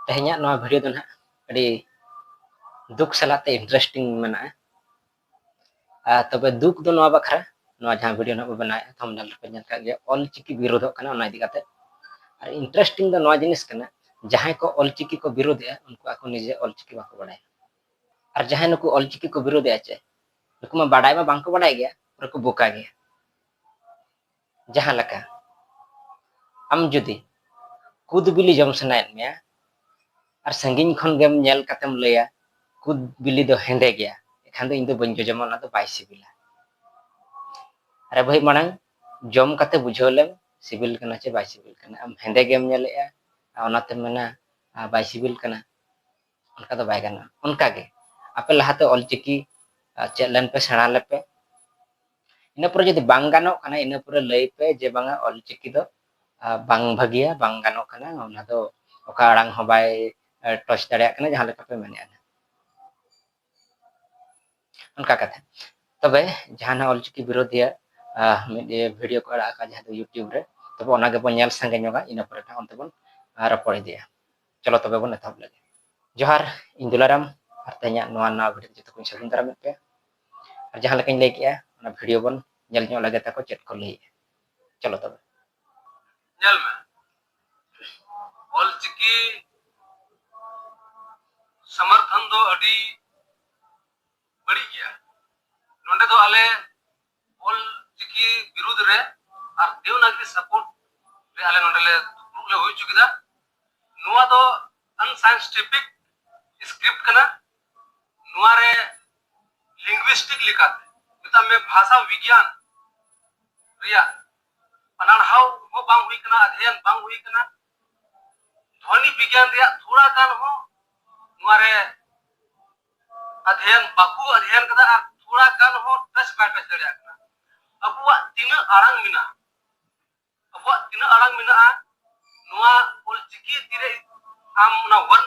ᱛᱮᱦᱮᱧᱟᱜ ᱱᱚᱣᱟ ᱵᱷᱤᱰᱤᱭᱳ ᱫᱚ ᱱᱟᱦᱟᱜ ᱟᱹᱰᱤ ᱫᱩᱠ ᱥᱟᱞᱟᱜ ᱛᱮ ᱤᱱᱴᱟᱨᱮᱥᱴᱤᱝ ᱢᱮᱱᱟᱜᱼᱟ ᱟᱨ ᱛᱚᱵᱮ ᱫᱩᱠ ᱫᱚ ᱱᱚᱣᱟ ᱵᱟᱠᱷᱨᱟ ᱱᱚᱣᱟ ᱡᱟᱦᱟᱸ ᱵᱷᱤᱰᱤᱭᱳ ᱱᱟᱦᱟᱜ ᱵᱚ ᱵᱮᱱᱟᱣᱮᱫᱼᱟ ᱛᱷᱟᱢᱵᱱᱮᱞ ᱨᱮᱯᱮ ᱧᱮᱞ ᱠᱟᱜ ᱜᱮᱭᱟ ᱚᱞ ᱪᱤᱠᱤ ᱵᱤᱨᱳᱫᱷᱚᱜ ᱠᱟᱱᱟ ᱚᱱᱟ ᱤᱫᱤ ᱠᱟᱛᱮ ᱟᱨ ᱤᱱᱴᱟᱨᱮᱥᱴᱤᱝ ᱫᱚ ᱱᱚᱣᱟ ᱡᱤᱱᱤᱥ ᱠᱟᱱᱟ ᱡᱟᱦᱟᱸᱭ ᱠᱚ ᱚᱞ ᱪᱤᱠᱤ ᱠᱚ ᱵᱤᱨᱳᱫᱷᱮᱜᱼᱟ ᱩᱱᱠᱩ ᱟᱠᱚ ᱱᱤᱡᱮ ᱚᱞ ᱪᱤᱠᱤ ᱵᱟᱠᱚ ᱵᱟᱲᱟᱭᱟ ᱟᱨ ᱡᱟᱦᱟᱸᱭ ᱱᱩᱠᱩ ᱚᱞ ᱪᱤᱠᱤ ᱠᱚ ᱵᱤᱨᱳᱫᱷᱮᱜᱼᱟ ᱪᱮ ᱱᱩᱠᱩ ᱢᱟ ᱵᱟᱰᱟᱭ ᱢᱟ ᱵᱟᱝᱠᱚ ᱵᱟᱰᱟᱭ ᱜᱮᱭᱟ ᱯᱩᱨᱟᱹ ᱠᱚ ᱵᱚᱠᱟ ᱜᱮᱭᱟ ᱡᱟᱦᱟᱸ ᱞᱮᱠᱟ ᱟᱢ ᱡᱩᱫᱤ ᱠᱩᱫ ᱵᱤᱞᱤ ᱡᱚᱢ ᱥᱟᱱᱟᱭᱮᱫ ᱢᱮᱭᱟ ᱟᱨ ᱥᱟᱺᱜᱤᱧ ᱠᱷᱚᱱ ᱜᱮᱢ ᱧᱮᱞ ᱠᱟᱛᱮᱢ ᱞᱟᱹᱭᱟ ᱠᱩᱫ ᱵᱤᱞᱤ ᱫᱚ ᱦᱮᱸᱫᱮ ᱜᱮᱭᱟ ᱮᱠᱷᱟᱱ ᱫᱚ ᱤᱧ ᱫᱚ ᱵᱟᱹᱧ ᱡᱚᱡᱚᱢᱟ ᱚᱱᱟ ᱫᱚ ᱵᱟᱭ ᱥᱤᱵᱤᱞᱟ ᱟᱨᱮ ᱵᱷᱟᱹᱭ ᱢᱟᱲᱟᱝ ᱡᱚᱢ ᱠᱟᱛᱮ ᱵᱩᱡᱷᱟᱹᱣ ᱞᱮᱢ ᱥᱤᱵᱤᱞ ᱠᱟᱱᱟ ᱪᱮ ᱵᱟᱭ ᱥᱤᱵᱤᱞ ᱠᱟᱱᱟ ᱟᱢ ᱦᱮᱸᱫᱮ ᱜᱮᱢ ᱧᱮᱞᱮᱜᱼᱟ ᱚᱱᱟᱛᱮᱢ ᱢᱮᱱᱟ ᱵᱟᱭ ᱥᱤᱵᱤᱞ ᱠᱟᱱᱟ ᱚᱱᱠᱟ ᱫᱚ ᱵᱟᱭ ᱜᱟᱱᱚᱜᱼᱟ ᱚᱱᱠᱟᱜᱮ ᱟᱯᱮ ᱞᱟᱦᱟᱛᱮ ᱚᱞᱪᱤᱠᱤ ᱪᱮᱫ ᱞᱮᱱ ᱯᱮ ᱥᱮᱬᱟ ᱞᱮᱯᱮ ᱤᱱᱟᱹ ᱯᱚᱨᱮ ᱡᱩᱫᱤ ᱵᱟᱝ ᱜᱟᱱᱚᱜ ᱠᱟᱱᱟ ᱤᱱᱟᱹ ᱯᱚᱨᱮ ᱞᱟᱹᱭ ᱯᱮ ᱡᱮ ᱵᱟᱝᱟ ᱚᱞᱪᱤᱠᱤ ᱫᱚ ᱵᱟᱝ ᱵᱷᱟᱹᱜᱤᱭᱟ ᱵᱟᱝ ᱜᱟᱱᱚᱜ ᱠᱟᱱᱟ ᱚᱱᱟ ᱫᱚ ᱚᱠᱟ ᱟᱲᱟᱝ ᱦᱚᱸ ᱵᱟᱭ ᱴᱚᱪ ᱫᱟᱲᱮᱭᱟᱜ ᱠᱟᱱᱟ ᱡᱟᱦᱟᱸ ᱞᱮᱠᱟ ᱯᱮ ᱢᱮᱱᱮᱫᱼᱟ ᱚᱱᱠᱟ ᱠᱟᱛᱮ ᱛᱚᱵᱮ ᱡᱟᱦᱟᱱᱟᱜ ᱚᱞᱪᱤᱠᱤ ᱵᱤᱨᱳᱫᱷᱤᱭᱟ ᱢᱤᱫ ᱵᱷᱤᱰᱤᱭᱳ ᱠᱚ ᱟᱲᱟᱜ ᱟᱠᱟᱫ ᱡᱟᱦᱟᱸ ᱫᱚ ᱤᱭᱩᱴᱤᱭᱩᱵᱽ ᱨᱮ ᱛᱚᱵᱮ ᱚᱱᱟ ᱜᱮᱵᱚᱱ ᱧᱮᱞ ᱥᱟᱸᱜᱮ ᱧᱚᱜᱟ ᱤᱱᱟᱹ ᱯᱚᱨᱮ ᱴᱟᱜ ᱚᱱᱛᱮ ᱵᱚᱱ ᱨᱚᱯᱚᱲ ᱤᱫᱤᱭᱟ ᱪᱚᱞᱚ ᱛᱚᱵᱮ ᱵᱚᱱ ᱮᱛᱚᱦᱚᱵ ᱞᱮᱜᱮ ᱡᱚᱦᱟᱨ ᱤᱧ ᱫᱩᱞᱟᱨᱟᱢ ᱟᱨ ᱛᱮᱦᱮᱧᱟᱜ ᱱᱚᱣᱟ ᱱᱟᱣᱟ ᱵᱷᱤᱰᱤᱭᱳ ᱡᱚᱛᱚ ᱠᱚᱧ ᱥᱟᱹᱜᱩᱱ ᱫᱟᱨᱟᱢᱮᱫ ᱯᱮᱭᱟ ᱟᱨ ᱡᱟᱦᱟᱸ ᱞᱮᱠᱟᱧ ᱞᱟᱹᱭ ᱠᱮᱜᱼᱟ ᱚᱱᱟ ᱵᱷᱤᱰᱤᱭᱳ ᱵᱚᱱ ᱧᱮᱞ ᱧᱚᱜ ᱞᱮᱜᱮ ᱛᱟᱠᱚ ᱪᱮᱫ ᱠᱚ ᱞᱟᱹᱭᱮᱜᱼᱟ ᱪᱚᱞᱚ ᱛᱚᱵᱮ ᱧᱮᱞ ᱢᱮ ᱚᱞᱪᱤᱠᱤ ᱥᱚᱢᱚᱨᱛᱷᱚᱱ ᱫᱚ ᱟᱹᱰᱤ ᱵᱟᱹᱲᱤᱡ ᱜᱮᱭᱟ ᱱᱚᱰᱮ ᱫᱚ ᱟᱞᱮ ᱚᱞᱪᱤᱠᱤ ᱵᱤᱨᱩᱫᱷ ᱨᱮ ᱟᱨ ᱫᱮᱣᱱᱟᱜᱨᱤ ᱥᱟᱯᱳᱨᱴ ᱨᱮ ᱟᱞᱮ ᱱᱚᱰᱮ ᱞᱮ ᱫᱩᱯᱲᱩᱵ ᱞᱮ ᱦᱩᱭ ᱦᱚᱪᱚ ᱠᱮᱫᱟ ᱱᱚᱣᱟ ᱫᱚ ᱟᱱᱥᱟᱭᱮᱱᱥᱴᱤᱯᱷᱤᱠ ᱥᱠᱨᱤᱯᱴ ᱠᱟᱱᱟ ᱱᱚᱣᱟ ᱨᱮ ᱞᱤᱝᱜᱩᱤᱥᱴᱤᱠ ᱞᱮᱠᱟᱛᱮ ᱢᱮᱛᱟᱜ ᱢᱮ ᱵᱷᱟᱥᱟ ᱵᱤᱜᱽᱭᱟᱱ ᱨᱮᱭᱟᱜ ᱯᱟᱲᱦᱟᱣ ᱦᱚᱸ ᱵᱟᱝ ᱦᱩᱭ ᱠᱟᱱᱟ ᱟᱫᱷᱮᱭᱟᱱ ᱵᱟᱝ ᱦᱩᱭ ᱠᱟᱱᱟ ᱫᱷᱚᱱᱤ ᱵᱤᱜᱽᱭᱟᱱ ᱨᱮᱭᱟᱜ ᱛᱷᱚᱲᱟ ᱜᱟᱱ ᱦᱚᱸ ᱱᱚᱣᱟ ᱨᱮ ᱟᱫᱷᱮᱭᱟᱱ ᱵᱟᱠᱚ ᱟᱫᱷᱮᱭᱟᱱ ᱠᱟᱫᱟ ᱟᱨ ᱛᱷᱚᱲᱟ ᱜᱟᱱ ᱦᱚᱸ ᱴᱟᱪ ᱵᱟᱭ ᱴᱟᱪ ᱫᱟᱲᱮᱭᱟᱜ ᱠᱟᱱᱟ ᱟᱵᱚᱣᱟᱜ ᱛᱤᱱᱟᱹᱜ ᱟᱲᱟᱝ ᱢᱮᱱᱟᱜᱼᱟ ᱟᱵᱚᱣᱟᱜ ᱛᱤᱱᱟᱹᱜ ᱟᱲᱟᱝ ᱢᱮᱱᱟᱜᱼᱟ ᱱᱚᱣᱟ ᱚᱞᱪᱤᱠᱤ ᱛᱤᱨᱮ ᱟᱢ ᱚᱱᱟ ᱣᱟᱨᱰ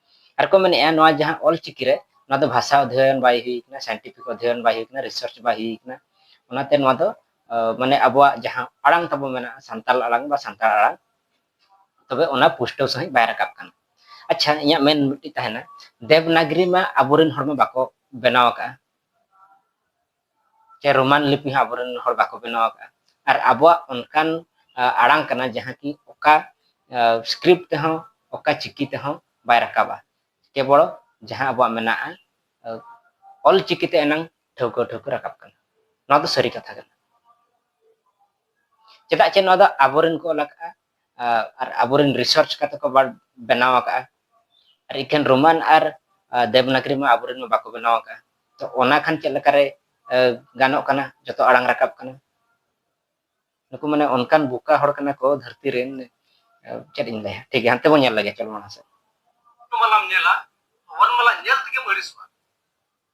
ᱟᱨ ᱠᱚ ᱢᱮᱱᱮᱜᱼᱟ ᱱᱚᱣᱟ ᱡᱟᱦᱟᱸ ᱚᱞ ᱪᱤᱠᱤ ᱨᱮ ᱱᱚᱣᱟ ᱫᱚ ᱵᱷᱟᱥᱟ ᱚᱫᱷᱭᱚᱭᱚᱱ ᱵᱟᱭ ᱦᱩᱭ ᱠᱟᱱᱟ ᱥᱟᱭᱮᱱᱴᱤᱯᱷᱤᱠ ᱚᱫᱷᱭᱚᱭᱚᱱ ᱵᱟᱭ ᱦᱩᱭ ᱠᱟᱱᱟ ᱨᱤᱥᱟᱨᱪ ᱵᱟᱭ ᱦᱩᱭ ᱠᱟᱱᱟ ᱚᱱᱟᱛᱮ ᱱᱚᱣᱟ ᱫᱚ ᱢᱟᱱᱮ ᱟᱵᱚᱣᱟᱜ ᱡᱟᱦᱟᱸ ᱟᱲᱟᱝ ᱛᱟᱵᱚ ᱢᱮᱱᱟᱜᱼᱟ ᱥᱟᱱᱛᱟᱲ ᱟᱲᱟᱝ ᱵᱟ ᱥᱟᱱᱛᱟᱲ ᱟᱲᱟᱝ ᱛᱚᱵᱮ ᱚᱱᱟ ᱯᱩᱥᱴᱟᱹᱣ ᱥᱟᱺᱦᱤᱡ ᱵᱟᱭ ᱨᱟᱠᱟᱵ ᱠᱟᱱᱟ ᱟᱪᱪᱷᱟ ᱤᱧᱟᱹᱜ ᱢᱮᱱ ᱢᱤᱫᱴᱤᱡ ᱛᱟᱦᱮᱱᱟ ᱫᱮᱵᱽᱱᱟᱜᱽᱨᱤ ᱢᱟ ᱟᱵᱚᱨᱮᱱ ᱦᱚᱲ ᱢᱟ ᱵᱟᱠᱚ ᱵᱮᱱᱟᱣ ᱟᱠᱟᱜᱼᱟ ᱥᱮ ᱨᱳᱢᱟᱱ ᱞᱤᱯᱤ ᱦᱚᱸ ᱟᱵᱚᱨᱮᱱ ᱦᱚᱲ ᱵᱟᱠᱚ ᱵᱮᱱᱟᱣ ᱟᱠᱟᱫᱼᱟ ᱟᱨ ᱟᱵᱚᱣᱟᱜ ᱚᱱᱠᱟᱱ ᱟᱲᱟᱝ ᱠᱟᱱᱟ ᱡᱟᱦᱟᱸ ᱠᱤ ᱚᱠᱟ ᱥᱠᱨᱤᱯᱴ ᱛᱮᱦᱚᱸ ᱚᱠᱟ ᱪᱤᱠᱤ ᱛᱮᱦᱚᱸ ᱵᱟᱭ ᱨᱟᱠᱟᱵᱟ ᱠᱮᱵᱚᱞ ᱡᱟᱦᱟᱸ ᱟᱵᱚᱣᱟᱜ ᱢᱮᱱᱟᱜᱼᱟ ᱚᱞ ᱪᱤᱠᱤ ᱛᱮ ᱮᱱᱟᱝ ᱴᱷᱟᱹᱣᱠᱟᱹ ᱴᱷᱟᱹᱣᱠᱟᱹ ᱨᱟᱠᱟᱵ ᱠᱟᱱᱟ ᱱᱚᱣᱟ ᱫᱚ ᱥᱟᱹᱨᱤ ᱠᱟᱛᱷᱟ ᱠᱟᱱᱟ ᱪᱮᱫᱟᱜ ᱪᱮ ᱱᱚᱣᱟ ᱫᱚ ᱟᱵᱚᱨᱮᱱ ᱠᱚ ᱚᱞ ᱟᱠᱟᱫᱼᱟ ᱟᱨ ᱟᱵᱚᱨᱮᱱ ᱨᱤᱥᱟᱨᱪ ᱠᱟᱛᱮ ᱠᱚ ᱵᱮᱱᱟᱣ ᱟᱠᱟᱫᱼᱟ ᱟᱨ ᱤᱠᱷᱟᱹᱱ ᱨᱳᱢᱟᱱ ᱟᱨ ᱫᱮᱵᱽᱱᱟᱜᱽᱨᱤ ᱢᱟ ᱟᱵᱚᱨᱮᱱ ᱢᱟ ᱵᱟᱠᱚ ᱵᱮᱱᱟᱣ ᱟᱠᱟᱫᱼᱟ ᱛᱚ ᱚᱱᱟ ᱠᱷᱟᱱ ᱪᱮᱫ ᱞᱮᱠᱟᱨᱮ ᱜᱟᱱᱚᱜ ᱠᱟᱱᱟ ᱡᱚᱛᱚ ᱟᱲᱟᱝ ᱨᱟᱠᱟᱵ ᱠᱟᱱᱟ ᱱᱩᱠᱩ ᱢᱟᱱᱮ ᱚᱱᱠᱟᱱ ᱵᱩᱠᱟ ᱦᱚᱲ ᱠᱟᱱᱟ ᱠᱚ ᱫᱷᱟᱹᱨᱛᱤ ᱨᱮᱱ ᱪᱮᱫ ᱤᱧ ᱞᱟᱹᱭᱟ ᱴᱷᱤᱠ ᱜᱮᱭᱟ ᱦᱟᱱᱛᱮ ᱵᱚᱱ ᱧᱮᱞ ᱞᱮᱜᱮ ᱪᱚᱞᱚ ᱢᱟᱲᱟᱝ ᱥᱮᱫ ᱢᱟᱞᱟᱢ ᱧᱮᱞᱟ ᱚᱱ ᱢᱟᱞᱟ ᱧᱮᱞ ᱛᱮᱜᱮᱢ ᱟᱹᱲᱤᱥᱚᱜᱼᱟ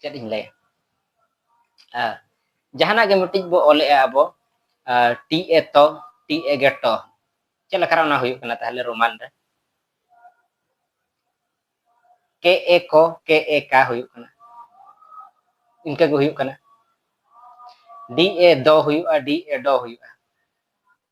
ᱪᱮᱫ ᱤᱧ ᱞᱟᱹᱭᱟ ᱡᱟᱦᱟᱱᱟᱜ ᱜᱮ ᱢᱤᱫᱴᱤᱡ ᱵᱚ ᱚᱞᱮᱜᱼᱟ ᱟᱵᱚ ᱴᱤ ᱮ ᱛᱚ ᱴᱤ ᱮ ᱜᱮ ᱴᱚ ᱪᱮᱫ ᱞᱮᱠᱟᱨᱮ ᱚᱱᱟ ᱦᱩᱭᱩᱜ ᱠᱟᱱᱟ ᱛᱟᱦᱞᱮ ᱨᱳᱢᱟᱱ ᱨᱮ ᱠᱮ ᱮ ᱠᱚ ᱠᱮ ᱮ ᱠᱟ ᱦᱩᱭᱩᱜ ᱠᱟᱱᱟ ᱤᱱᱠᱟᱹ ᱜᱮ ᱦᱩᱭᱩᱜ ᱠᱟᱱᱟ ᱰᱤ ᱮ ᱫᱚ ᱦᱩᱭᱩᱜᱼᱟ ᱰᱤ ᱮ ᱰᱚ ᱦᱩᱭᱩᱜᱼᱟ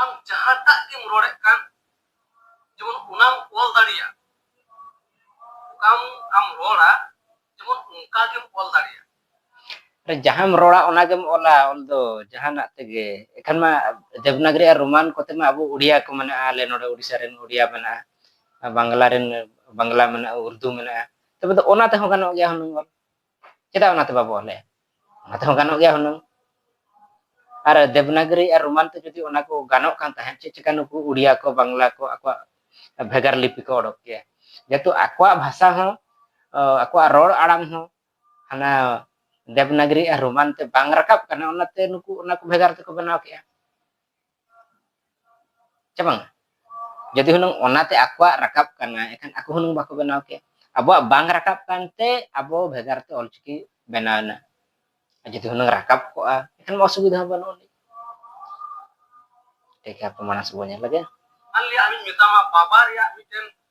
ᱟᱢ ᱡᱟᱦᱟᱸᱴᱟᱜ ᱜᱮᱢ ᱨᱚᱲᱮᱫ ᱠᱟᱱ ᱡᱮᱢᱚᱱ ᱚᱱᱟᱢ ᱚᱞ ᱫᱟᱲᱮᱭᱟᱜ ᱚᱠᱟᱢ ᱟᱢ ᱨᱚᱲᱟ ᱡᱮᱢᱚᱱ ᱚᱱᱠᱟ ᱜᱮᱢ ᱚᱞ ᱫᱟᱲᱮᱭᱟᱜ ᱡᱟᱦᱟᱸᱢ ᱨᱚᱲᱟ ᱚᱱᱟ ᱜᱮᱢ ᱚᱞᱟ ᱚᱞ ᱫᱚ ᱡᱟᱦᱟᱱᱟᱜ ᱛᱮᱜᱮ ᱮᱠᱷᱟᱱ ᱢᱟ ᱫᱮᱵᱽᱱᱟᱜᱨᱤ ᱟᱨ ᱨᱳᱢᱟᱱ ᱠᱚᱛᱮ ᱢᱟ ᱟᱵᱚ ᱩᱰᱤᱭᱟ ᱠᱚ ᱢᱮᱱᱟᱜᱼᱟ ᱟᱞᱮ ᱱᱚᱰᱮ ᱩᱰᱤᱥᱟ ᱨᱮᱱ ᱩᱰᱤᱭᱟ ᱢᱮᱱᱟᱜᱼᱟ ᱵᱟᱝᱞᱟ ᱨᱮᱱ ᱵᱟᱝᱞᱟ ᱢᱮᱱᱟᱜᱼᱟ ᱩᱨᱫᱩ ᱢᱮᱱᱟᱜᱼᱟ ᱛᱚᱵᱮ ᱫᱚ ᱚᱱᱟ ᱛᱮᱦᱚᱸ ᱜᱟᱱᱚᱜ ᱜᱮᱭᱟ ᱦᱩᱱᱟᱹᱝ ᱚᱞ ᱪᱮᱫᱟᱜ ᱚᱱᱟᱛᱮ ᱵᱟᱵᱚ ᱚᱞᱮᱜᱼᱟ ᱚᱱᱟ ᱛᱮᱦᱚᱸ ᱜᱟᱱᱚᱜ ᱜᱮᱭᱟ ᱦᱩᱱᱟᱹᱝ ᱟᱨ ᱫᱮᱵᱽᱱᱟᱜᱨᱤ ᱟᱨ ᱨᱳᱢᱟᱱ ᱛᱮ ᱡᱩᱫᱤ ᱚᱱᱟ ᱠᱚ ᱜᱟᱱᱚᱜ ᱠᱟᱱ ᱛᱟᱦᱮᱸᱫ ᱪᱮᱫ ᱪᱤᱠᱟ ᱱᱩᱠᱩ ᱩᱲᱤᱭᱟ ᱠᱚ ᱵᱟᱝᱞᱟ ᱠᱚ ᱟᱠᱚᱣᱟᱜ ᱵᱷᱮᱜᱟᱨ ᱞᱤᱯᱤ ᱠᱚ ᱚᱰᱚᱠ ᱠᱮᱭᱟ ᱡᱮᱦᱮᱛᱩ ᱟᱠᱚᱣᱟᱜ ᱵᱷᱟᱥᱟ ᱦᱚᱸ ᱟᱠᱚᱣᱟᱜ ᱨᱚᱲ ᱟᱲᱟᱝ ᱦᱚᱸ ᱦᱟᱱᱟ ᱫᱮᱵᱽᱱᱟᱜᱨᱤ ᱟᱨ ᱨᱳᱢᱟᱱ ᱛᱮ ᱵᱟᱝ ᱨᱟᱠᱟᱵ ᱠᱟᱱᱟ ᱚᱱᱟᱛᱮ ᱱᱩᱠᱩ ᱚᱱᱟ ᱠᱚ ᱵᱷᱮᱜᱟᱨ ᱛᱮᱠᱚ ᱵᱮᱱᱟᱣ ᱠᱮᱜᱼᱟ ᱪᱮ ᱵᱟᱝ ᱡᱩᱫᱤ ᱦᱩᱱᱟᱹᱝ ᱚᱱᱟᱛᱮ ᱟᱠᱚᱣᱟᱜ ᱨᱟᱠᱟᱵ ᱠᱟᱱᱟ ᱮᱱᱠᱷᱟᱱ ᱟᱠᱚ ᱦᱩᱱᱟᱹᱝ ᱵᱟᱠᱚ ᱵᱮᱱᱟᱣ ᱠᱮᱭᱟ ᱟᱵᱚᱣᱟᱜ ᱵᱟᱝ ᱨᱟᱠᱟᱵ ᱠᱟᱱᱛᱮ ᱟᱵᱚ ᱵᱷᱮᱜᱟᱨ ᱛᱮ ᱚᱞᱪᱤᱠᱤ ᱵᱮᱱᱟᱣᱮᱱᱟ ᱡᱩᱫᱤ ᱦᱩᱱᱟᱹᱝ ᱨᱟᱠᱟᱵ ᱠᱚᱜᱼᱟ ᱮᱱᱠᱷᱟᱱ ᱢᱟ ᱚᱥᱩᱵᱤᱫᱷᱟ ᱦᱚᱸ ᱵᱟᱹᱱᱩᱜ ᱟᱹᱱᱤᱡ ᱴᱷᱤᱠ ᱜᱮᱭᱟ ᱯᱨᱚᱢᱟᱱᱟᱥ ᱵᱚᱱ ᱧᱮᱞ ᱞᱮᱜᱮ ᱟᱞᱤᱧ ᱢᱮᱛᱟᱢᱟ ᱵᱟᱵᱟ ᱨᱮᱭᱟᱜ ᱢᱤᱫᱴᱮᱱ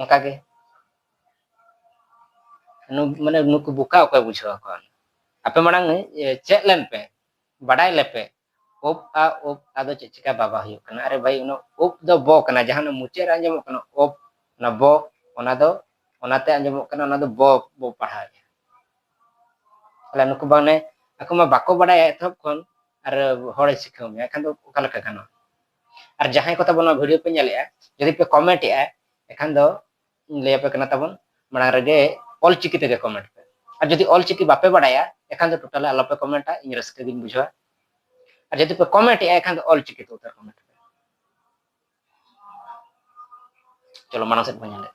ᱚᱱᱠᱟ ᱜᱮ ᱢᱟᱱᱮ ᱱᱩᱠᱩ ᱵᱚᱠᱟ ᱚᱠᱚᱭ ᱵᱩᱡᱷᱟᱹᱣ ᱟᱠᱚᱣᱟ ᱟᱯᱮ ᱢᱟᱲᱟᱝ ᱪᱮᱫ ᱞᱮᱱ ᱯᱮ ᱵᱟᱰᱟᱭ ᱞᱮᱯᱮ ᱳᱯ ᱟ ᱳᱯ ᱟᱫᱚ ᱪᱮᱫ ᱪᱤᱠᱟ ᱵᱟᱵᱟ ᱦᱩᱭᱩᱜ ᱠᱟᱱᱟ ᱟᱨᱮ ᱵᱷᱟᱭ ᱚᱱᱟ ᱳᱯ ᱫᱚ ᱵᱚ ᱠᱟᱱᱟ ᱡᱟᱦᱟᱸ ᱢᱩᱪᱟᱹᱫ ᱨᱮ ᱟᱸᱡᱚᱢᱚᱜ ᱠᱟᱱᱟ ᱳᱯ ᱚᱱᱟ ᱵᱚ ᱚᱱᱟ ᱫᱚ ᱚᱱᱟᱛᱮ ᱟᱸᱡᱚᱢᱚᱜ ᱠᱟᱱᱟ ᱚᱱᱟ ᱫᱚ ᱵᱚ ᱵᱚ ᱯᱟᱲᱦᱟᱣᱮᱫᱼᱟ ᱛᱟᱦᱚᱞᱮ ᱱᱩᱠᱩ ᱵᱟᱝ ᱟᱠᱚ ᱢᱟ ᱵᱟᱠᱚ ᱵᱟᱰᱟᱭᱟ ᱮᱛᱚᱦᱚᱵ ᱠᱷᱚᱱ ᱟᱨ ᱦᱚᱲᱮ ᱥᱤᱠᱷᱟᱹᱣ ᱢᱮᱭᱟ ᱮᱱᱠᱷᱟᱱ ᱫᱚ ᱚᱠᱟ ᱞᱮᱠᱟ ᱜᱟᱱᱚᱜᱼᱟ ᱟᱨ ᱡᱟᱦᱟᱸᱭ ᱠᱚ ᱛᱟᱵᱚᱱ ᱱᱚᱣᱟ ᱵᱷᱤᱰᱤᱭᱳ ᱯᱮ ᱧᱮᱞᱮᱜᱼᱟ ᱡᱩᱫᱤ ᱯᱮ ᱠᱚᱢᱮᱱᱴ ᱮᱜᱼᱟ ᱮᱠᱷᱟᱱ ᱫᱚ ᱞᱟᱹᱭ ᱟᱯᱮ ᱠᱟᱱᱟ ᱛᱟᱵᱚᱱ ᱢᱟᱲᱟᱝ ᱨᱮᱜᱮ ᱚᱞ ᱪᱤᱠᱤ ᱛᱮᱜᱮ ᱠᱚᱢᱮᱱᱴ ᱯᱮ ᱟᱨ ᱡᱩᱫᱤ ᱚᱞ ᱪᱤᱠᱤ ᱵᱟᱯᱮ ᱵᱟᱲᱟᱭᱟ ᱮᱠᱷᱟᱱ ᱫᱚ ᱴᱳᱴᱟᱞ ᱟᱞᱚ ᱯᱮ ᱠᱚᱢᱮᱱᱴᱟ ᱤᱧ ᱨᱟᱹᱥᱠᱟᱹ ᱜᱤᱧ ᱵᱩᱡᱷᱟᱹᱣᱟ ᱟᱨ ᱡᱩᱫᱤ ᱯᱮ ᱠᱚᱢᱮᱱᱴ ᱮᱜᱼᱟ ᱮᱠᱷᱟᱱ ᱫᱚ ᱚᱞ ᱪᱤᱠᱤ ᱛᱮ ᱩᱛᱟᱹᱨ ᱠᱚᱢᱮᱱᱴ ᱯᱮ ᱪᱚᱞᱚ ᱢᱟᱲᱟᱝ ᱥᱮᱫ ᱵᱚᱱ ᱧᱮᱞᱮᱫ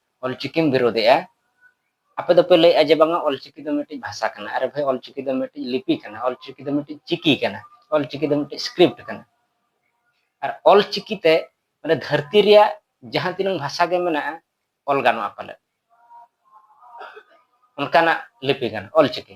ᱚᱞᱪᱤᱠᱤᱢ ᱵᱤᱨᱳᱫᱮᱜᱼᱟ ᱟᱯᱮ ᱫᱚᱯᱮ ᱞᱟᱹᱭᱮᱜᱼᱟ ᱡᱮ ᱵᱟᱝᱟ ᱚᱞᱪᱤᱠᱤ ᱫᱚ ᱢᱤᱫᱴᱤᱡ ᱵᱷᱟᱥᱟ ᱠᱟᱱᱟ ᱟᱨᱮ ᱵᱷᱟᱭ ᱚᱞᱪᱤᱠᱤ ᱫᱚ ᱢᱤᱫᱴᱤᱡ ᱞᱤᱯᱤ ᱠᱟᱱᱟ ᱚᱞᱪᱤᱠᱤ ᱫᱚ ᱢᱤᱫᱴᱤᱡ ᱪᱤᱠᱤ ᱠᱟᱱᱟ ᱚᱞᱪᱤᱠᱤ ᱫᱚ ᱢᱤᱫᱴᱤᱡ ᱥᱠᱨᱤᱯᱴ ᱠᱟᱱᱟ ᱟᱨ ᱚᱞᱪᱤᱠᱤ ᱛᱮ ᱢᱟᱱᱮ ᱫᱷᱟᱹᱨᱛᱤ ᱨᱮᱭᱟᱜ ᱡᱟᱦᱟᱸ ᱛᱤᱱᱟᱹᱝ ᱵᱷᱟᱥᱟ ᱜᱮ ᱢᱮᱱᱟᱜᱼᱟ ᱚᱞ ᱜᱟᱱᱚᱜᱼᱟ ᱯᱟᱞᱮ ᱚᱱᱠᱟᱱᱟᱜ ᱞᱤᱯᱤ ᱠᱟᱱᱟ ᱚᱞᱪᱤᱠᱤ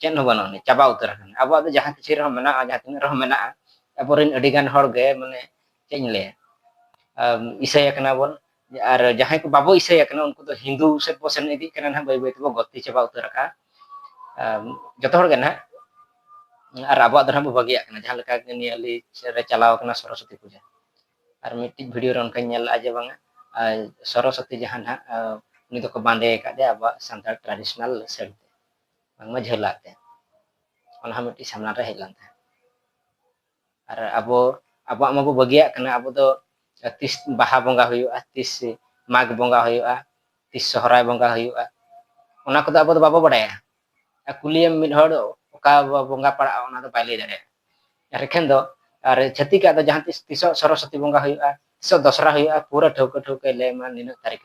ᱪᱮᱫ ᱦᱚᱸ ᱵᱟᱹᱱᱩᱜ ᱟᱹᱱᱤᱡ ᱪᱟᱵᱟ ᱩᱛᱟᱹᱨ ᱟᱠᱟᱱᱟ ᱟᱵᱚᱣᱟᱜ ᱫᱚ ᱡᱟᱦᱟᱸ ᱠᱤᱪᱷᱩ ᱨᱮᱦᱚᱸ ᱢᱮᱱᱟᱜᱼᱟ ᱡᱟᱦᱟᱸ ᱛᱤᱱᱟᱹᱜ ᱨᱮᱦᱚᱸ ᱢᱮᱱᱟᱜᱼᱟ ᱟᱵᱚᱨᱮᱱ ᱟᱹᱰᱤ ᱜᱟᱱ ᱦᱚᱲ ᱜᱮ ᱢᱟᱱᱮ ᱪᱮᱫ ᱤᱧ ᱞᱟᱹᱭᱟ ᱤᱥᱟᱹᱭ ᱟᱠᱟᱱᱟ ᱵᱚᱱ ᱟᱨ ᱡᱟᱦᱟᱸᱭ ᱠᱚ ᱵᱟᱵᱚ ᱤᱥᱟᱹᱭ ᱟᱠᱟᱱᱟ ᱩᱱᱠᱩ ᱫᱚ ᱦᱤᱱᱫᱩ ᱥᱮᱫ ᱵᱚ ᱥᱮᱱ ᱤᱫᱤᱜ ᱠᱟᱱᱟ ᱱᱟᱦᱟᱜ ᱵᱟᱹᱭ ᱵᱟᱹᱭ ᱛᱮᱵᱚ ᱜᱚᱛᱤ ᱪᱟᱵᱟ ᱩᱛᱟᱹᱨ ᱟᱠᱟᱜᱼᱟ ᱡᱚᱛᱚ ᱦᱚᱲ ᱜᱮ ᱱᱟᱦᱟᱜ ᱟᱨ ᱟᱵᱚᱣᱟᱜ ᱫᱚ ᱱᱟᱦᱟᱜ ᱵᱚ ᱵᱟᱹᱜᱤᱭᱟᱜ ᱠᱟᱱᱟ ᱡᱟᱦᱟᱸ ᱞᱮᱠᱟ ᱱᱤᱭᱟᱹ ᱞᱤ ᱨᱮ ᱪᱟᱞᱟᱣ ᱟᱠᱟᱱᱟ ᱥᱚᱨᱚᱥᱚᱛᱤ ᱯᱩᱡᱟᱹ ᱟᱨ ᱢᱤᱫᱴᱤᱡ ᱵᱷᱤᱰᱤᱭᱳ ᱨᱮ ᱚᱱᱠᱟᱧ ᱧᱮᱞ ᱞᱮᱜᱼᱟ ᱡᱮ ᱵᱟᱝᱟ ᱥᱚᱨᱚᱥᱚᱛᱤ ᱡᱟᱦᱟᱸ ᱱᱟᱦᱟᱜ ᱩᱱᱤ ᱫᱚᱠᱚ ᱵᱟᱸᱫᱮ ᱟᱠᱟᱫᱮᱭᱟ ᱟᱵᱚᱣᱟᱜ ᱥᱟᱱᱛᱟᱲ ᱴᱨᱟᱰᱤᱥᱚᱱᱟᱞ ᱥᱟᱹᱲᱤ ᱵᱟᱝᱢᱟ ᱡᱷᱟᱹᱞᱟᱜ ᱛᱮ ᱚᱱᱟ ᱦᱚᱸ ᱢᱤᱫᱴᱤᱡ ᱥᱟᱢᱟᱝ ᱨᱮ ᱦᱮᱡ ᱞᱮᱱ ᱛᱟᱦᱮᱸᱫ ᱟᱨ ᱟᱵᱚ ᱟᱵᱚᱣᱟᱜ ᱢᱟᱵᱚ ᱵᱟᱹᱜᱤᱭᱟᱜ ᱠᱟᱱᱟ ᱟᱵᱚ ᱫᱚ ᱛᱤᱥ ᱵᱟᱦᱟ ᱵᱚᱸᱜᱟ ᱦᱩᱭᱩᱜᱼᱟ ᱛᱤᱥ ᱢᱟᱜᱽ ᱵᱚᱸᱜᱟ ᱦᱩᱭᱩᱜᱼᱟ ᱛᱤᱥ ᱥᱚᱦᱨᱟᱭ ᱵᱚᱸᱜᱟ ᱦᱩᱭᱩᱜᱼᱟ ᱚᱱᱟ ᱠᱚᱫᱚ ᱟᱵᱚ ᱫᱚ ᱵᱟᱵᱚ ᱵᱟᱲᱟᱭᱟ ᱟᱨ ᱠᱩᱞᱤᱭᱮᱢ ᱢᱤᱫ ᱦᱚᱲ ᱚᱠᱟ ᱵᱚᱸᱜᱟ ᱯᱟᱲᱟᱜᱼᱟ ᱚᱱᱟ ᱫᱚ ᱵᱟᱭ ᱞᱟᱹᱭ ᱫᱟᱲᱮᱭᱟᱜᱼᱟ ᱟᱨ ᱮᱠᱷᱮᱱ ᱫᱚ ᱟᱨ ᱪᱷᱟᱹᱛᱤᱠᱟᱜ ᱫᱚ ᱡᱟᱦᱟᱸ ᱛᱤᱥ ᱛᱤᱥᱚᱜ ᱥᱚᱨᱚᱥᱚᱛᱤ ᱵᱚᱸᱜᱟ ᱦᱩᱭᱩᱜᱼᱟ ᱛᱤᱥᱚᱜ ᱫᱚᱥᱨᱟ ᱦᱩᱭᱩᱜᱼᱟ ᱯᱩᱨᱟᱹ ᱴᱷᱟᱹᱣᱠᱟᱹ ᱴᱷᱟᱹᱣᱠᱟᱹᱭ ᱞᱟᱹᱭᱟᱢᱟ ᱱᱤᱱᱟᱹᱜ ᱛᱟᱹᱨᱤᱠᱷ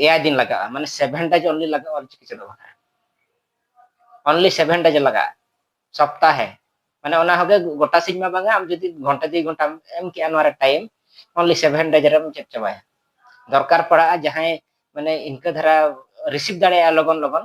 ᱮᱭᱟᱭ ᱫᱤᱱ ᱞᱟᱜᱟᱜᱼᱟ ᱢᱟᱱᱮ ᱥᱮᱵᱷᱮᱱ ᱰᱮᱡ ᱚᱱᱞᱤ ᱞᱟᱜᱟᱜᱼᱟ ᱚᱞᱪᱤᱠᱤ ᱪᱮᱫᱚᱜ ᱵᱟᱠᱷᱨᱟ ᱚᱱᱞᱤ ᱥᱮᱵᱷᱮᱱ ᱰᱮᱡ ᱞᱟᱜᱟᱜᱼᱟ ᱥᱚᱯᱛᱟᱦᱮ ᱢᱟᱱᱮ ᱚᱱᱟ ᱦᱚᱸᱜᱮ ᱜᱚᱴᱟ ᱥᱤᱧ ᱢᱟ ᱵᱟᱝᱟ ᱟᱢ ᱡᱩᱫᱤ ᱜᱷᱚᱱᱴᱟ ᱫᱩᱭ ᱜᱷᱚᱱᱴᱟᱢ ᱮᱢ ᱠᱮᱜᱼᱟ ᱱᱚᱣᱟ ᱨᱮ ᱴᱟᱭᱤᱢ ᱚᱱᱞᱤ ᱥᱮᱵᱷᱮᱱ ᱰᱮᱡ ᱨᱮᱢ ᱪᱮᱫ ᱪᱟᱵᱟᱭᱟ ᱫᱚᱨᱠᱟᱨ ᱯᱟᱲᱟᱜᱼᱟ ᱡᱟᱦᱟᱸᱭ ᱢᱟᱱᱮ ᱤᱱᱠᱟᱹ ᱫᱷᱟᱨᱟ ᱨᱤᱥᱤᱵᱷ ᱫᱟᱲᱮᱭᱟᱜᱼᱟ ᱞᱚᱜᱚᱱ ᱞᱚᱜᱚᱱ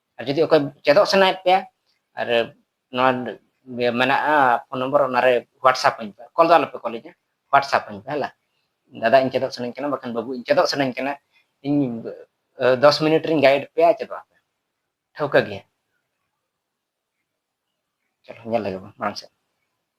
ᱟᱨ ᱡᱩᱫᱤ ᱚᱠᱚᱭ ᱪᱮᱫᱚᱜ ᱥᱟᱱᱟᱭᱮᱫ ᱯᱮᱭᱟ ᱟᱨ ᱱᱚᱣᱟ ᱢᱮᱱᱟᱜᱼᱟ ᱯᱷᱳᱱ ᱱᱚᱢᱵᱚᱨ ᱚᱱᱟᱨᱮ ᱦᱳᱣᱟᱴᱥᱟᱯ ᱟᱹᱧ ᱯᱮ ᱠᱚᱞ ᱫᱚ ᱟᱞᱚᱯᱮ ᱠᱚᱞ ᱤᱧᱟ ᱦᱳᱣᱟᱴᱥᱟᱯ ᱟᱹᱧ ᱯᱮ ᱦᱮᱞᱟ ᱫᱟᱫᱟ ᱤᱧ ᱪᱮᱫᱚᱜ ᱥᱟᱱᱟᱧ ᱠᱟᱱᱟ ᱵᱟᱠᱷᱟᱱ ᱵᱟᱹᱵᱩ ᱤᱧ ᱪᱮᱫᱚᱜ ᱥᱟᱱᱟᱧ ᱠᱟᱱᱟ ᱤᱧ ᱫᱚᱥ ᱢᱤᱱᱤᱴ ᱨᱤᱧ ᱜᱟᱭᱤᱰ ᱯᱮᱭᱟ ᱪᱮᱫᱚᱜ ᱟᱯᱮ ᱴᱷᱟᱹᱣᱠᱟᱹ ᱜᱮᱭᱟ ᱪᱚᱞᱚ ᱧᱮᱞ ᱞᱮᱜᱮ ᱵᱚᱱ ᱢᱟᱲᱟᱝ ᱥᱮᱫ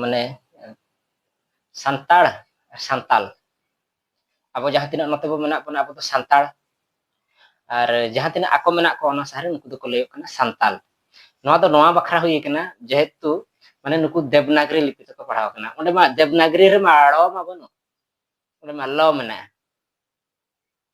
ᱢᱟᱱᱮ ᱥᱟᱱᱛᱟᱲ ᱥᱟᱱᱛᱟᱞ ᱟᱵᱚ ᱡᱟᱦᱟᱸ ᱛᱤᱱᱟᱹᱜ ᱱᱚᱛᱮ ᱵᱚ ᱢᱮᱱᱟᱜ ᱵᱚᱱᱟ ᱟᱵᱚ ᱫᱚ ᱥᱟᱱᱛᱟᱲ ᱟᱨ ᱡᱟᱦᱟᱸ ᱛᱤᱱᱟᱹᱜ ᱟᱠᱚ ᱢᱮᱱᱟᱜ ᱠᱚᱣᱟ ᱚᱱᱟ ᱥᱟᱦᱟᱨ ᱩᱱᱠᱩ ᱫᱚᱠᱚ ᱞᱟᱹᱭᱚᱜ ᱠᱟᱱᱟ ᱥᱟᱱᱛᱟᱞ ᱱᱚᱣᱟ ᱫᱚ ᱱᱚᱣᱟ ᱵᱟᱠᱷᱨᱟ ᱦᱩᱭ ᱠᱟᱱᱟ ᱡᱮᱦᱮᱛᱩ ᱢᱟᱱᱮ ᱱᱩᱠᱩ ᱫᱮᱵᱽᱱᱟᱜᱨᱤ ᱞᱤᱯᱤ ᱛᱮᱠᱚ ᱯᱟᱲᱦᱟᱣ ᱠᱟᱱᱟ ᱚᱸᱰᱮ ᱢᱟ ᱫᱮᱵᱽᱱᱟᱜᱨᱤ ᱨᱮᱢᱟ ᱟᱲᱚ ᱢᱟ ᱵᱟᱹᱱᱩᱜ ᱚᱸᱰᱮ ᱢᱟ ᱞᱚ ᱢᱮᱱᱟᱜᱼᱟ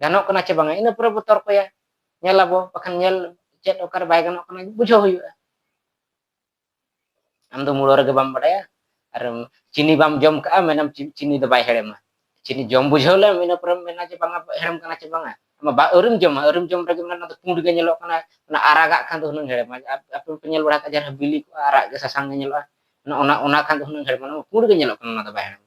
ᱜᱟᱱᱚᱜ ᱠᱟᱱᱟ ᱪᱮ ᱵᱟᱝᱟ ᱤᱱᱟᱹ ᱯᱚᱨᱮ ᱵᱚ ᱛᱚᱨᱠᱚᱭᱟ ᱧᱮᱞ ᱟᱵᱚ ᱵᱟᱠᱷᱟᱱ ᱧᱮᱞ ᱪᱮᱫ ᱚᱠᱟᱨᱮ ᱵᱟᱭ ᱜᱟᱱᱚᱜ ᱠᱟᱱᱟ ᱵᱩᱡᱷᱟᱹᱣ ᱦᱩᱭᱩᱜᱼᱟ ᱟᱢ ᱫᱚ ᱢᱩᱲᱚ ᱨᱮᱜᱮ ᱵᱟᱢ ᱵᱟᱰᱟᱭᱟ ᱟᱨ ᱪᱤᱱᱤ ᱵᱟᱢ ᱡᱚᱢ ᱠᱟᱜᱼᱟ ᱢᱮᱱᱟᱢ ᱪᱤᱱᱤ ᱫᱚ ᱵᱟᱭ ᱦᱮᱲᱮᱢᱟ ᱪᱤᱱᱤ ᱡᱚᱢ ᱵᱩᱡᱷᱟᱹᱣ ᱞᱮᱢ ᱤᱱᱟᱹ ᱯᱚᱨᱮᱢ ᱢᱮᱱᱟ ᱡᱮ ᱵᱟᱝᱟ ᱦᱮᱲᱮᱢ ᱠᱟᱱᱟ ᱪᱮ ᱵᱟᱝᱟ ᱟᱢ ᱵᱟ ᱟᱹᱣᱨᱤᱢ ᱡᱚᱢᱟ ᱟᱹᱣᱨᱤᱢ ᱡᱚᱢ ᱨᱮᱜᱮ ᱢᱮᱱᱟ ᱚᱱᱟ ᱫᱚ ᱯᱩᱸᱰ ᱜᱮ ᱧᱮᱞᱚᱜ ᱠᱟᱱᱟ ᱚᱱᱟ ᱟᱨᱟᱜᱟᱜ ᱠᱷᱟᱱ ᱫᱚ ᱦᱩᱱᱟᱹᱝ ᱦᱮᱲᱮᱢᱟ ᱟᱯᱮ ᱯᱮ ᱧᱮᱞ ᱵᱟᱲᱟ ᱠᱟᱜᱼᱟ ᱡᱟᱦᱟᱸ ᱵᱤᱞᱤ ᱠᱚᱜᱼᱟ ᱟᱨᱟᱜ ᱜᱮ ᱥᱟᱥᱟᱝ ᱜᱮ ᱧᱮᱞᱚᱜᱼᱟ ᱚᱱᱟ ᱚᱱᱟ ᱠᱷᱟᱱ ᱫᱚ ᱦᱩᱱᱟᱹᱝ ᱦᱮᱲᱮᱢᱟ ᱯᱩᱸᱰ ᱜᱮ ᱧᱮᱞᱚᱜ ᱠᱟᱱᱟ ᱚᱱᱟ ᱫᱚ ᱵᱟᱭ ᱦᱮᱲᱮᱢᱟ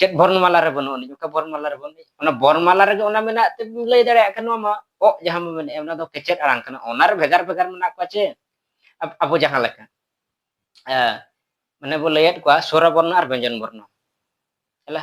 ᱪᱮᱫ ᱵᱚᱨᱱᱢᱟᱞᱟ ᱨᱮ ᱵᱟᱹᱱᱩᱜ ᱟᱹᱱᱤᱡ ᱚᱠᱟ ᱵᱚᱨᱱᱢᱟᱞᱟ ᱨᱮ ᱵᱟᱹᱱᱩᱜ ᱚᱱᱟ ᱵᱚᱨᱱᱢᱟᱞᱟ ᱨᱮᱜᱮ ᱚᱱᱟ ᱢᱮᱱᱟᱜ ᱛᱮ ᱞᱟᱹᱭ ᱫᱟᱲᱮᱭᱟᱜ ᱠᱟᱱᱟ ᱱᱚᱣᱟ ᱢᱟ ᱚᱜ ᱡᱟᱦᱟᱸ ᱢᱟ ᱢᱮᱱᱮᱜᱼᱟ ᱚᱱᱟ ᱫᱚ ᱠᱮᱪᱮᱫ ᱟᱲᱟᱝ ᱠᱟᱱᱟ ᱚᱱᱟ ᱨᱮ ᱵᱷᱮᱜᱟᱨ ᱵᱷᱮᱜᱟᱨ ᱢᱮᱱᱟᱜ ᱠᱚᱣᱟ ᱪᱮ ᱟᱵᱚ ᱡᱟᱦᱟᱸ ᱞᱮᱠᱟ ᱢᱟᱱᱮ ᱵᱚ ᱞᱟᱹᱭᱮᱫ ᱠᱚᱣᱟ ᱥᱚᱨᱟ ᱵᱚᱨᱱᱚ ᱟᱨ ᱵᱮᱧᱡᱚᱱ ᱵᱚᱨᱱᱚ ᱦᱮᱞᱟ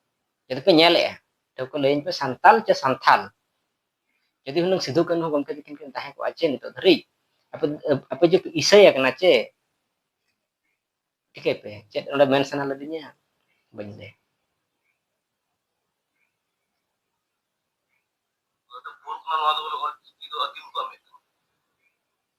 ᱡᱩᱫᱤ ᱯᱮ ᱧᱮᱞᱮᱜᱼᱟ ᱴᱷᱟᱹᱣᱠᱟᱹ ᱞᱟᱹᱭᱟᱹᱧ ᱯᱮ ᱥᱟᱱᱛᱟᱞ ᱪᱮ ᱥᱟᱱᱛᱷᱟᱞ ᱡᱩᱫᱤ ᱦᱩᱱᱟᱹᱝ ᱥᱤᱫᱷᱩ ᱠᱟᱹᱱᱦᱩ ᱜᱚᱢᱠᱮ ᱛᱟᱹᱠᱤᱱ ᱠᱤᱱ ᱛᱟᱦᱮᱸ ᱠᱚᱜᱼᱟ ᱪᱮ ᱱᱤᱛᱚᱜ ᱫᱷᱟᱹᱨᱤᱡ ᱟᱯᱮ ᱟᱯᱮ ᱡᱩᱫᱤ ᱤᱥᱟᱹᱭ ᱟᱠᱟᱱᱟ ᱪᱮ ᱴᱷᱤᱠᱟᱹᱭ ᱯᱮ ᱪᱮᱫ ᱚᱸᱰᱮ ᱢᱮᱱ ᱥᱟᱱᱟ ᱞᱮᱫᱤᱧᱟ ᱵᱟᱹᱧ ᱞᱟᱹᱭ ᱱᱚᱣᱟ ᱫᱚ ᱵᱚᱞᱮ ᱚᱞ ᱪᱤᱠᱤ ᱫᱚ ᱟᱹᱫᱤᱢ ᱠᱚᱣᱟᱜ ᱢᱤᱫ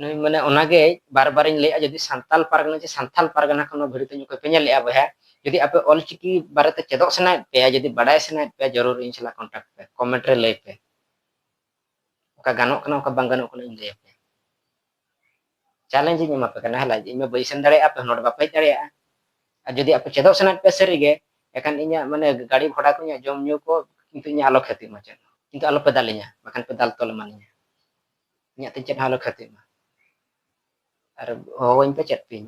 ᱱᱩᱭ ᱢᱟᱱᱮ ᱚᱱᱟᱜᱮ ᱵᱟᱨ ᱵᱟᱨᱤᱧ ᱞᱟᱹᱭᱟ ᱡᱩᱫᱤ ᱥᱟᱱᱛᱟᱞ ᱯᱟᱨᱜᱟᱱᱟ ᱡᱮ ᱥᱟᱱᱛᱟᱞ ᱯᱟᱨᱜᱟᱱᱟ ᱠᱷᱚᱱ ᱱᱚᱣᱟ ᱵᱷᱤᱰᱤᱭᱳ ᱛᱤᱧ ᱚᱠᱚᱭ ᱯᱮ ᱧᱮᱞᱮᱜᱼᱟ ᱵᱚᱭᱦᱟ ᱡᱩᱫᱤ ᱟᱯᱮ ᱚᱞ ᱪᱤᱠᱤ ᱵᱟᱨᱮᱛᱮ ᱪᱮᱫᱚᱜ ᱥᱟᱱᱟᱭᱮᱫ ᱯᱮᱭᱟ ᱡᱩᱫᱤ ᱵᱟᱰᱟᱭ ᱥᱟᱱᱟᱭᱮᱫ ᱯᱮᱭᱟ ᱡᱚᱨᱩᱨ ᱤᱧ ᱥᱟᱞᱟᱜ ᱠᱚᱱᱴᱟᱠᱴ ᱯᱮ ᱠᱚᱢᱮᱱᱴ ᱨᱮ ᱞᱟᱹᱭ ᱯᱮ ᱚᱠᱟ ᱜᱟᱱᱚᱜ ᱠᱟᱱᱟ ᱚᱠᱟ ᱵᱟᱝ ᱜᱟᱱᱚᱜ ᱠᱟᱱᱟ ᱤᱧ ᱞᱟᱹᱭ ᱟᱯᱮ ᱪᱟᱞᱮᱧᱡᱽ ᱤᱧ ᱮᱢᱟ ᱯᱮ ᱠᱟᱱᱟ ᱦᱮᱞᱟ ᱤᱧ ᱢᱟ ᱵᱟᱹᱧ ᱥᱮᱱ ᱫᱟᱲᱮᱭᱟᱜᱼᱟ ᱟᱯᱮ ᱱᱚᱰᱮ ᱵᱟᱯᱮ ᱦᱮᱡ ᱫᱟᱲᱮᱭᱟᱜᱼᱟ ᱟᱨ ᱡᱩᱫᱤ ᱟᱯᱮ ᱪᱮᱫᱚᱜ ᱥᱟᱱᱟᱭᱮᱫ ᱯᱮᱭᱟ ᱥᱟᱹᱨᱤᱜᱮ ᱮᱠᱷᱟᱱ ᱤᱧᱟᱹᱜ ᱢᱟᱱᱮ ᱜᱟᱹᱰᱤ ᱜᱷᱚᱲᱟ ᱠᱚ ᱤᱧᱟᱹᱜ ᱡᱚᱢ ᱧᱩ ᱠᱚ ᱠᱤᱱᱛᱩ ᱤᱧᱟᱹᱜ ᱟᱞᱚ ᱠᱷᱟᱹᱛᱤ ᱢᱟ ᱪᱮᱫ ᱠᱤᱱᱛᱩ ᱟᱞᱚᱯᱮ ᱫᱟᱞᱤᱧᱟ ᱵᱟᱠᱷᱟᱱ ᱯᱮ ᱫᱟᱞ ᱛᱚᱞ ᱮᱢᱟᱱᱤᱧᱟ ᱤᱧᱟᱹᱜ ᱛᱮ ᱪᱮᱫ ᱦᱚᱸ ᱟᱞᱚ ᱠᱷᱟᱹᱛᱤᱜ ᱢᱟ ᱟᱨ ᱦᱚᱦᱚᱣᱟᱹᱧ ᱯᱮ ᱪᱮᱫ ᱯᱮᱧ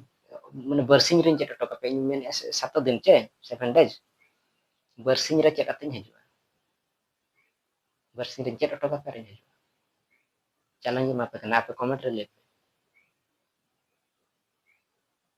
ᱢᱟᱱᱮ ᱵᱟᱨᱥᱤᱧ ᱨᱤᱧ ᱪᱮᱫ ᱦᱚᱴᱚ ᱠᱟᱯᱮ ᱤᱧ ᱢᱮᱱᱮᱫᱼᱟ ᱥᱟᱛᱚ ᱫᱤᱱ ᱪᱮ ᱥᱮᱵᱷᱮᱱ ᱰᱮᱡᱽ ᱵᱟᱨᱥᱤᱧ ᱨᱮ ᱪᱮᱫ ᱟᱛᱮᱧ ᱦᱤᱡᱩᱜᱼᱟ ᱵᱟᱨᱥᱤᱧ ᱨᱤᱧ ᱪᱮᱫ ᱦᱚᱴᱚ ᱠᱟᱯᱮ ᱨᱤᱧ ᱦᱤᱡᱩᱜᱼᱟ ᱪᱟᱞᱟᱣᱤᱧ ᱮᱢᱟ ᱯᱮ ᱠᱟᱱᱟ ᱟᱯᱮ ᱠᱚᱢᱮᱱᱴ ᱨᱮ ᱞᱟᱹᱭ ᱯᱮ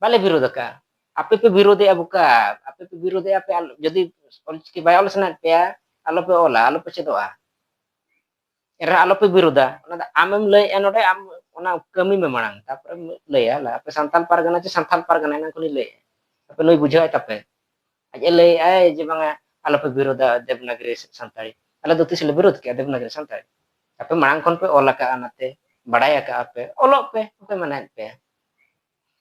ᱵᱟᱞᱮ ᱵᱤᱨᱳᱫ ᱟᱠᱟᱫᱼᱟ ᱟᱯᱮ ᱯᱮ ᱵᱤᱨᱳᱫᱮᱜᱼᱟ ᱵᱚᱠᱟ ᱟᱯᱮ ᱯᱮ ᱵᱤᱨᱳᱫᱮᱜᱼᱟ ᱯᱮ ᱡᱩᱫᱤ ᱚᱞᱪᱤᱠᱤ ᱵᱟᱭ ᱚᱞ ᱥᱟᱱᱟᱭᱮᱫ ᱯᱮᱭᱟ ᱟᱞᱚᱯᱮ ᱚᱞᱟ ᱟᱞᱚᱯᱮ ᱪᱮᱫᱚᱜᱼᱟ ᱮᱱᱨᱮᱦᱚᱸ ᱟᱞᱚᱯᱮ ᱵᱤᱨᱳᱫᱟ ᱚᱱᱟ ᱫᱚ ᱟᱢᱮᱢ ᱞᱟᱹᱭᱮᱫᱼᱟ ᱱᱚᱰᱮ ᱟᱢ ᱚᱱᱟ ᱠᱟᱹᱢᱤ ᱢᱮ ᱢᱟᱲᱟᱝ ᱛᱟᱨᱯᱚᱨᱮ ᱞᱟᱹᱭᱟ ᱟᱯᱮ ᱥᱟᱱᱛᱟᱞ ᱯᱟᱨᱜᱟᱱᱟ ᱪᱮ ᱥᱟᱱᱛᱟᱞ ᱯᱟᱨᱜᱟᱱᱟ ᱮᱱᱟᱝ ᱠᱷᱚᱱᱤᱧ ᱞᱟᱹᱭᱮᱫᱼᱟ ᱟᱯᱮ ᱱᱩᱭ ᱵᱩᱡᱷᱟᱹᱣᱟᱭ ᱛᱟᱯᱮ ᱟᱡ ᱮ ᱞᱟᱹᱭᱮᱫᱼᱟᱭ ᱡᱮ ᱵᱟᱝᱟ ᱟᱞᱚᱯᱮ ᱵᱤᱨᱳᱫᱟ ᱫᱮᱵᱽᱱᱟᱜᱨᱤ ᱥᱟᱱᱛᱟᱲᱤ ᱟᱞᱮ ᱫᱚ ᱛᱤᱥ ᱞᱮ ᱵᱤᱨᱳᱫ ᱠᱮᱜᱼᱟ ᱫᱮᱵᱽᱱᱟᱜᱨᱤ ᱥᱟᱱᱛᱟᱲᱤ ᱟᱯᱮ ᱢᱟᱲᱟᱝ ᱠᱷᱚᱱ ᱯᱮ ᱚᱞ ᱟᱠᱟᱜᱼᱟ ᱚᱱᱟᱛᱮ ᱵᱟᱲᱟᱭ ᱟᱠᱟᱜᱼᱟ ᱯᱮ ᱚᱞᱚᱜ ᱯᱮ ᱚᱠᱚᱭ ᱢᱟᱱᱟᱭᱮᱫ ᱯᱮᱭᱟ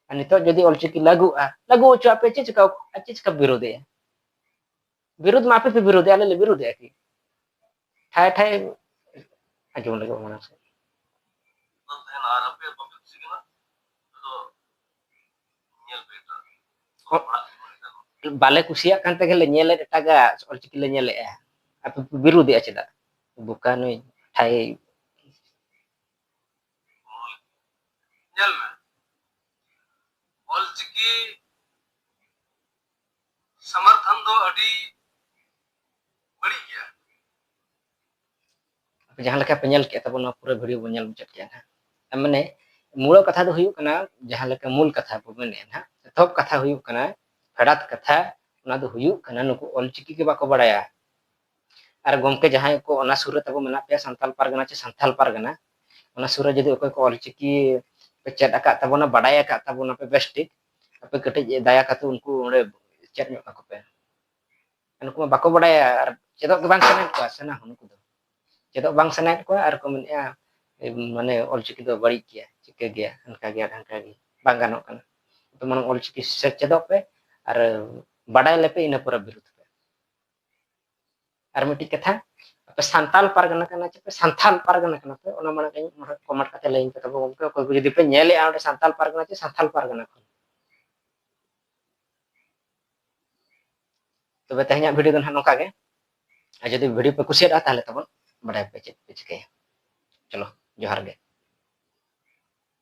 ᱟᱨ ᱱᱤᱛᱚᱜ ᱡᱩᱫᱤ ᱚᱞᱪᱤᱠᱤ ᱞᱟᱹᱜᱩᱜᱼᱟ ᱞᱟᱹᱜᱩ ᱦᱚᱪᱚ ᱟᱯᱮ ᱪᱮᱫ ᱪᱤᱠᱟ ᱟᱨ ᱪᱮᱫ ᱪᱤᱠᱟ ᱵᱤᱨᱳᱫᱮᱜᱼᱟ ᱵᱤᱨᱳᱫ ᱢᱟ ᱟᱯᱮ ᱯᱮ ᱵᱤᱨᱳᱫᱮᱜᱼᱟ ᱟᱞᱮ ᱞᱮ ᱵᱤᱨᱳᱫᱮᱜᱼᱟ ᱠᱤ ᱴᱷᱟᱭ ᱴᱷᱟᱭ ᱟᱸᱡᱚᱢ ᱞᱟᱹᱜᱤᱫ ᱢᱚᱱᱮ ᱥᱮ ᱵᱟᱞᱮ ᱠᱩᱥᱤᱭᱟᱜ ᱠᱟᱱ ᱛᱮᱜᱮ ᱞᱮ ᱧᱮᱞᱮᱫ ᱮᱴᱟᱜᱟᱜ ᱚᱞᱪᱤᱠᱤ ᱞᱮ ᱧᱮᱞᱮᱜᱼᱟ ᱟᱯᱮ ᱯᱮ ᱵᱤᱨᱳᱫᱮᱜᱼᱟ ᱪᱮᱫᱟᱜ ᱵᱚᱠᱟ ᱱᱩᱭ ᱴᱷᱟᱭ ᱧᱮᱞ ᱢᱮ ᱚᱞᱪᱤᱠᱤ ᱥᱚᱢᱚᱨᱛᱷᱚᱱ ᱫᱚ ᱟᱹᱰᱤ ᱵᱟᱹᱲᱤᱡ ᱜᱮᱭᱟ ᱡᱟᱦᱟᱸ ᱞᱮᱠᱟ ᱯᱮ ᱧᱮᱞ ᱠᱮᱫ ᱛᱟᱵᱚᱱ ᱱᱚᱣᱟ ᱯᱩᱨᱟᱹ ᱵᱷᱤᱰᱤᱭᱳ ᱵᱚᱱ ᱧᱮᱞ ᱢᱩᱪᱟᱹᱫ ᱠᱮᱫᱼᱟ ᱱᱟᱦᱟᱜ ᱢᱟᱱᱮ ᱢᱩᱲ ᱠᱟᱛᱷᱟ ᱫᱚ ᱦᱩᱭᱩᱜ ᱠᱟᱱᱟ ᱡᱟᱦᱟᱸ ᱞᱮᱠᱟ ᱢᱩᱞ ᱠᱟᱛᱷᱟ ᱵᱚ ᱢᱮᱱᱮᱫᱼᱟ ᱱᱟᱦᱟᱜ ᱮᱛᱚᱦᱚᱵ ᱠᱟᱛᱷᱟ ᱦᱩᱭᱩᱜ ᱠᱟᱱᱟ ᱯᱷᱮᱰᱟᱛ ᱠᱟᱛᱷᱟ ᱚᱱᱟ ᱫᱚ ᱦᱩᱭᱩᱜ ᱠᱟᱱᱟ ᱱᱩᱠᱩ ᱚᱞᱪᱤᱠᱤ ᱜᱮ ᱵᱟᱠᱚ ᱵᱟᱲᱟᱭᱟ ᱟᱨ ᱜᱚᱢᱠᱮ ᱡᱟᱦᱟᱸᱭ ᱠᱚ ᱚᱱᱟ ᱥᱩᱨ ᱨᱮ ᱛᱟᱵᱚ ᱢᱮᱱᱟᱜ ᱯᱮᱭᱟ ᱥᱟᱱᱛᱟᱞ ᱯᱟᱨᱜᱟᱱᱟ ᱪᱮ ᱥᱟᱱᱛᱟᱞ ᱯᱟᱨᱜᱟᱱᱟ ᱚᱱᱟ ᱥᱩᱨ ᱨᱮ ᱡᱩᱫᱤ ᱚᱠᱚᱭ ᱠᱚ ᱚᱞᱪᱤᱠᱤ ᱯᱮ ᱪᱮᱫ ᱟᱠᱟᱫ ᱛᱟᱵᱚᱱᱟ ᱵᱟᱰᱟᱭ ᱟᱠᱟᱫ ᱛᱟᱵᱚᱱᱟ ᱯᱮ ᱵᱮᱥ ᱴᱷᱤᱠ ᱟᱯᱮ ᱠᱟᱹᱴᱤᱡ ᱫᱟᱭᱟ ᱠᱟᱛᱮ ᱩᱱᱠᱩ ᱚᱸᱰᱮ ᱪᱮᱫ ᱧᱚᱜ ᱠᱟᱠᱚ ᱯᱮ ᱱᱩᱠᱩ ᱢᱟ ᱵᱟᱠᱚ ᱵᱟᱰᱟᱭᱟ ᱟᱨ ᱪᱮᱫᱚᱜ ᱜᱮ ᱵᱟᱝ ᱥᱟᱱᱟᱭᱮᱫ ᱠᱚᱣᱟ ᱥᱟᱱᱟ ᱦᱚᱸ ᱱᱩᱠᱩ ᱫᱚ ᱪᱮᱫᱚᱜ ᱵᱟᱝ ᱥᱟᱱᱟᱭᱮᱫ ᱠᱚᱣᱟ ᱟᱨ ᱠᱚ ᱢᱮᱱᱮᱫᱼᱟ ᱢᱟᱱᱮ ᱚᱞᱪᱤᱠᱤ ᱫᱚ ᱵᱟᱹᱲᱤᱡ ᱜᱮᱭᱟ ᱪᱤᱠᱟᱹ ᱜᱮᱭᱟ ᱦᱟᱱᱠᱟ ᱜᱮᱭᱟ ᱰᱷᱟᱝᱠᱟ ᱜᱮᱭᱟ ᱵᱟᱝ ᱜᱟᱱᱚᱜ ᱠᱟᱱᱟ ᱛᱚ ᱢᱟᱲᱟᱝ ᱚᱞᱪᱤᱠᱤ ᱥᱮᱪᱮᱫᱚᱜ ᱯᱮ ᱟᱨ ᱵᱟᱰᱟᱭ ᱞᱮᱯᱮ ᱤᱱᱟᱹ ᱯᱚᱨᱮ ᱵᱤᱨᱩᱫᱷ ᱟᱨ ᱢᱤᱫᱴᱤᱡ ᱠᱟᱛᱷᱟ ᱟᱯᱮ ᱥᱟᱱᱛᱟᱞ ᱯᱟᱨᱜᱟᱱᱟ ᱠᱟᱱᱟ ᱪᱮ ᱯᱮ ᱥᱟᱱᱛᱟᱞ ᱯᱟᱨᱜᱟᱱᱟ ᱠᱟᱱᱟ ᱯᱮ ᱚᱱᱟ ᱢᱟᱲᱟᱝ ᱤᱧ ᱢᱚᱬᱮ ᱠᱚᱢᱮᱱᱴ ᱠᱟᱛᱮ ᱞᱟᱹᱭ ᱤᱧ ᱯᱮ ᱛᱟᱵᱚ ᱜᱚᱢᱠᱮ ᱚᱠᱚᱭ ᱠᱚ ᱡᱩᱫᱤ ᱯᱮ ᱧᱮᱞᱮᱜᱼᱟ ᱚᱸᱰᱮ ᱥᱟᱱᱛᱟᱞ ᱯᱟᱨᱜᱟᱱᱟ ᱪᱮ ᱥᱟᱱᱛᱟᱞ ᱯᱟᱨᱜᱟᱱᱟ ᱠᱷᱚᱱ ᱛᱚᱵᱮ ᱛᱮᱦᱮᱧᱟᱜ ᱵᱷᱤᱰᱤᱭᱳ ᱫᱚ ᱱᱟᱦᱟᱜ ᱱᱚᱝᱠᱟ ᱜᱮ ᱟᱨ ᱡᱩᱫᱤ ᱵᱷᱤᱰᱤᱭᱳ ᱯᱮ ᱠᱩᱥᱤᱭᱟᱫᱟ ᱛᱟᱦᱚᱞᱮ ᱛᱟᱵᱚᱱ ᱵᱟᱰᱟᱭ ᱯᱮ ᱪᱮᱫ ᱯᱮ ᱪᱤᱠᱟᱹᱭᱟ ᱪᱚᱞᱚ ᱡᱚᱦᱟᱨ ᱜᱮ